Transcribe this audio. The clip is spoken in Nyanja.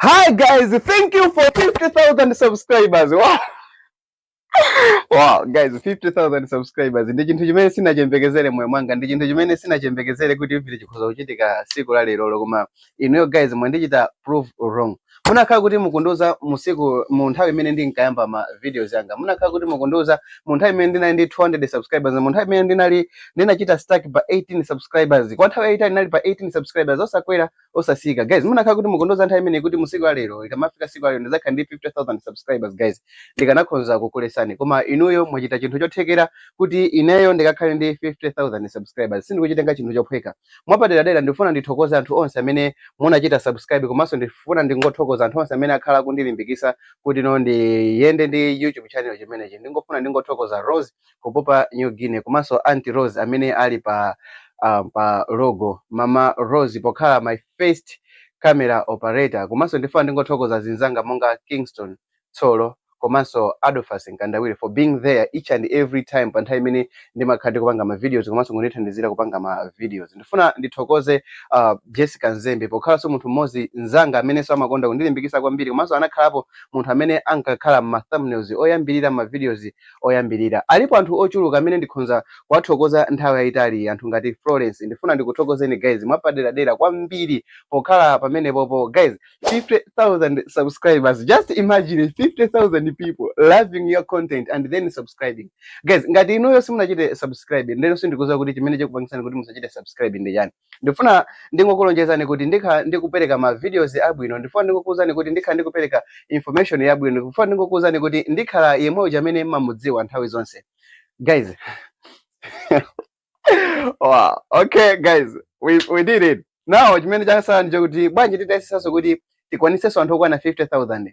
Hi guys, thank you for 50,000 subscribers. Wow. Wow, guys, 50,000 subscribers. Ndi chinthu chimene sinachembekezere moyo mwanga, ndi chinthu chimene sinachembekezere kuti ivi chikhoza kuchitika siku la lero koma inuyo guys mwandichita prove wrong. Munakhala kuti mukundiuza musiku mu nthawi imene ndinkayamba ma videos anga. Munakhala kuti mukundiuza mu nthawi imene ndinali ndi 200 subscribers, mu nthawi imene ndinali ndinachita stack pa 18 subscribers. Kwa nthawi yaitali ndinali pa 18 subscribers osakwera osasika guys munakhala kuti mukundiuza nthawi imeneyi kuti musiku la lero ikamafika siku la lero ndizakhala ndi 50000 subscribers guys ndikanakhoza kukuletsani koma inuyo mwachita chinthu chothekera kuti ineyo ndikakhale ndi 50000 subscribers sindikuchitenga chinthu chophweka mwapaderadera ndifuna ndithokoze anthu onse amene munachita subscribe komanso ndifuna ndingothokoza anthu onse amene akhala kundilimbikisa kuti no ndiyende ndi youtube channel chimenechi ndingofuna ndingothokoza rose ku Papua New Guinea komanso Aunt Rose amene ali pa uh, pa logo Mama Rose pokhala my first camera operator komanso ndifuna ndingothokoza zinzanga monga Kingston Tsolo komanso Adolphus Nkandawire for being there each and every time pa nthawi imene ndimakhala ndikupanga ma videos komanso kundithandizira kupanga ma videos ndifuna ndithokoze uh, Jessica Nzembe pokhalanso munthu mmodzi nzanga amenenso amakonda kundilimbikitsa kwambiri komanso anakhalapo munthu amene ankakhala ma thumbnails oyambirira ma videos oyambirira. Alipo anthu ochuluka amene ndikhonza kuwathokoza nthawi yayitali, anthu ngati Florence. Ndifuna ndikuthokozeni guys mwapaderadera kwambiri pokhala pamenepopo. Guys, 50,000 subscribers. Just imagine 50,000 people loving your content and then subscribing. Guys, ngati inuyo simunachite subscribe, ndeno sindikuziwa kuti chimene chikupangitsani kuti musachite subscribe ndi chani. ndifuna ndingokulonjezani kuti ndikhala ndikupereka ma videos abwino ndifuna ndingokuwuzani kuti ndikhala ndikupereka information yabwino ndifuna ndingokuwuzani kuti ndikhala yemwe uja amene mmamudziwa nthawi zonse guys wow okay guys we, we did it now chimene chasala ndi chokuti bwanji titayesesanso kuti tikwanitsenso anthu okwana 50000